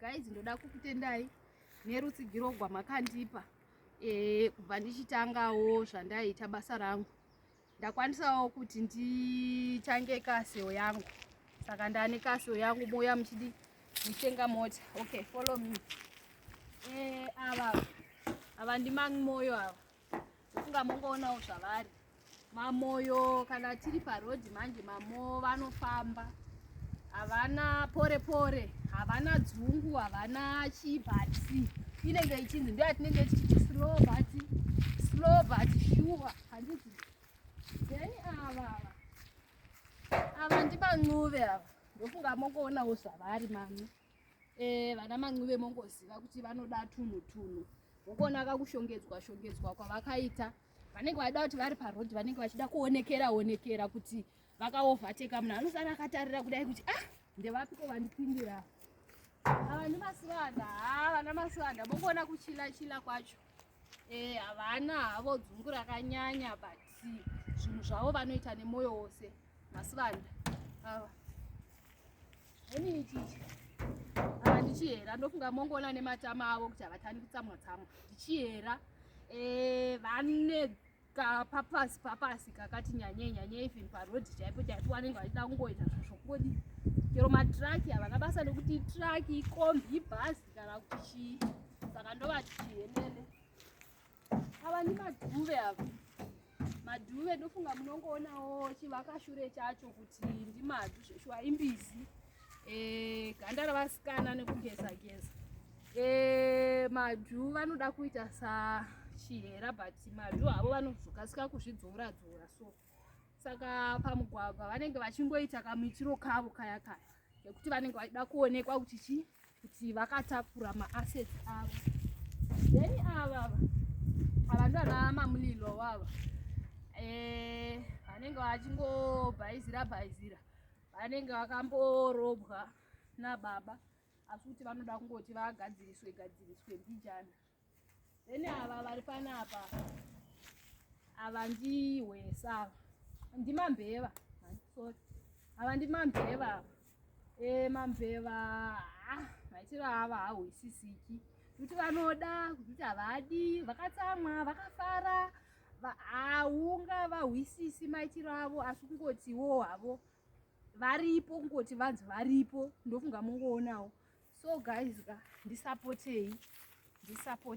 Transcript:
guys ndoda kukutendai nerutsigiro gwamakandipa e, kubva ndichitangawo zvandaiita basa rangu ndakwanisawo kuti ndichange kaseo yangu saka ndane kaseo yangu mouya muchidi mutenga mota okay follow me e, ava ava ndimangimoyo ava Funga mongoonawo zvavari. Mamoyo kana tiri paroad manje mamo vanofamba. Havana pore pore, havana dzungu, havana chibhatsi. Inenge ichinzi ndiyo yatinenge tichiti slow but slow but sure. Handiti. Then ava ava ndimancuve ava. Ndofunga mongoonawo zvavari mami. Eh, vana mancuve mongoziva kuti vanoda tunhu tunhu vokuona kakushongedzwa shongedzwa kwavakaita vanenge vaida kuti vari paroad vanenge vachida kuonekera onekera kuti vakaovateka munhu anosara akatarira kudai kuti ah ndevapiko vandipindira ava ndimasivanda ha ah, vana masivanda mongoona kuchila chila kwacho Eh, havana havo dzungu rakanyanya but zvinhu zvavo vanoita nemwoyo wose masivanda ava ini ichichi ava ndichihera ndofunga mongoona nematama avo kuti havatani kutsamwa tsamwa ndichihera eh, vane kapapasi papasi kakati nyanyei nyanyei even paroad chaipo chaipo vanenge vachida kungoita zvokodi chero matraki havana basa nekuti itraki ikombi ibhazi kana kuti chii saka ndovati chienene ava ni madhuve ava madhuve ndofunga munongoonawo chivakashure chacho kuti ndimadu zveshuwa imbizi eh, ganda revasikana nekugeza geza eh, madhu vanoda kuita sachihera but madhu avo vanozokasika kuzvidzora dzora so saka pamugwagwa vanenge vachingoita kamuitiro kavo kaya kaya nekuti vanenge vachida kuonekwa kuti chii kuti vakatakura maasset avo then ava ava ndana mamulilo wava eh, vanenge vachingobhaizira bhaizira vanenge vakamborobwa nababa asi kuti vanoda kungoti vagadziriswe gadziriswe mbijana then ava vari panapa ava ndihwesa ava ndimambeva sorry ava ndimambeva ava e eh, mambeva ah, maitiro ava hahwisisiki kuti vanoda kuti havadi vakatsamwa vakafara haunga vahwisisi maitiro avo asi kungotiwo havo varipo kungoti vanzi varipo ndofunga mungoonawo so guys ka ndisapotei ndisapotei